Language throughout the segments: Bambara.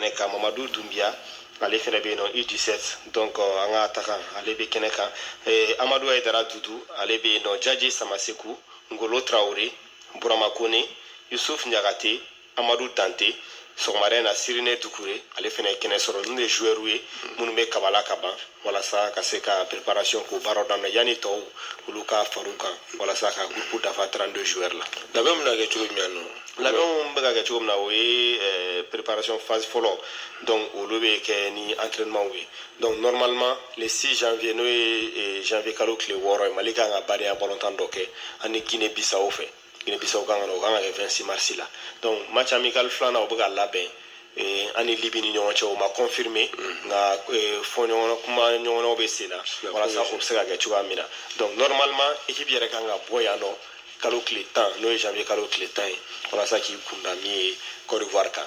kɛnɛ kan mamadu dunbiya ale fɛnɛ bɛ yen nɔ u 17 donc an ka atakan ale bɛ kɛnɛ kan eh, amadu ayidara dudu ale bɛ yen nɔ jaji samaseku ngolo tarawele burama kone yusuf ɲagate amadu dante sɔgɔmada in na sirine dukure ale fɛnɛ ye kɛnɛ sɔrɔ ninnu de joueurw ye minnu bɛ kabala ka ban walasa ka se ka préparation k'u baaraw daminɛ yanni tɔw olu ka far'u kan walasa ka groupe dafa 32 joueurs la labɛnw bɛna kɛ cogo jumɛn nɔ labɛnw bɛ ka kɛ cogo min na o ye eh, préparation phase fɔlɔ donc olu bɛ kɛ ni entraînement ye donc normalement le 6 janvier n'o ye eh, janvier kalo tile wɔɔrɔ ye mali kan ka badenya balontan dɔ kɛ ani guinée bissau fɛ guinée bissau kan ka na o kan ka kɛ 26 mars la donc match amical filanan o bɛ ka labɛn Eh, an ni libi ni ɲɔgɔn cɛ o ma confirmé mm. nka eh, fɔ ɲɔgɔn kumaɲɔgɔnyaw bɛ sen na walasa o bɛ se ka kɛ cogoya min na donc normalement équipe yɛrɛ kan ka bɔ yan nɔ kalo tile tan n'o ye janvier kalo tile tan ye walasa k'i kunda min ye Côte d'Ivoire kan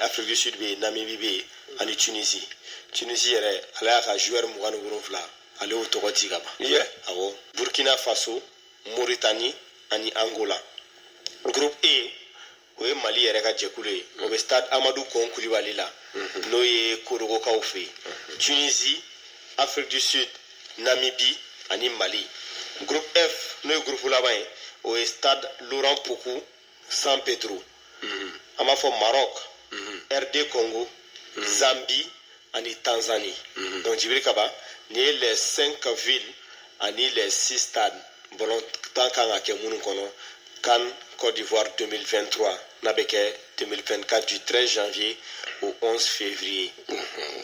afiriki du sud bɛ yen namibi bɛ yen ani tunisi tunisi yɛrɛ ale y'a ka zuwɛri mugan ni wolonwula ale y'o tɔgɔ ci ka ban awɔ burkina faso moritani ani angola groupe e o ye mali yɛrɛ ka jɛkulu ye o bɛ stade amadu gɔn kulibali la mhm. n'o ye korogokaw fɛ yen mhm. tunisi afiriki du sud namibi ani mali groupe f n'o ye groupe laban ye o ye stade laurent pokou san pedro mhm. an b'a fɔ maroc mhm. rd congo mhm. zambie ani tanzanie donc jibiri kaba nin ye les cinq villes ani les six stades balontan kan ka kɛ minnu kɔnɔ can côte d'ivoire 2023 n'a bɛ kɛ 2024 du 13 janvier au 11 février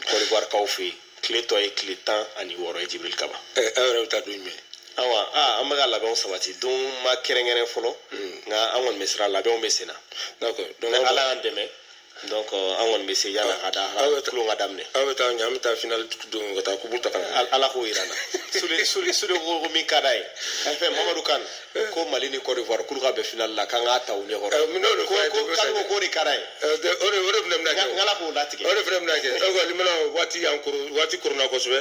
côte d'ivoire kaw fɛ yen tile tɔ ye tile tan ani wɔɔrɔ ye jibiri kaba aw yɛrɛ bɛ taa don jumɛn awa aa an bɛ ka labɛnw sabati don ma kɛrɛnkɛrɛn fɔlɔ hmm. nka an kɔni bɛ sira kan labɛnw bɛ senna d'accord n'ala y'an dɛmɛ donc an kɔni bɛ se yann'a ka da tulon ka daminɛ aw bɛ taa ɲɛ an bɛ taa final don ka taa kupu ta ala k'o jira n na sule ko min ka d'a ye fɛn mamadu kan ko mali ni cote d'ivoire k'olu ka bɛn finali la k'an k'a ta u ɲɛkɔrɔ eh, k'ale ko k'o de ka d'a ye eh, o de o de fana bɛna kɛ nk'ala k'o latigɛ o de fana bɛna kɛ o kɔni mana waati y'an koron waati koronna kosɛbɛ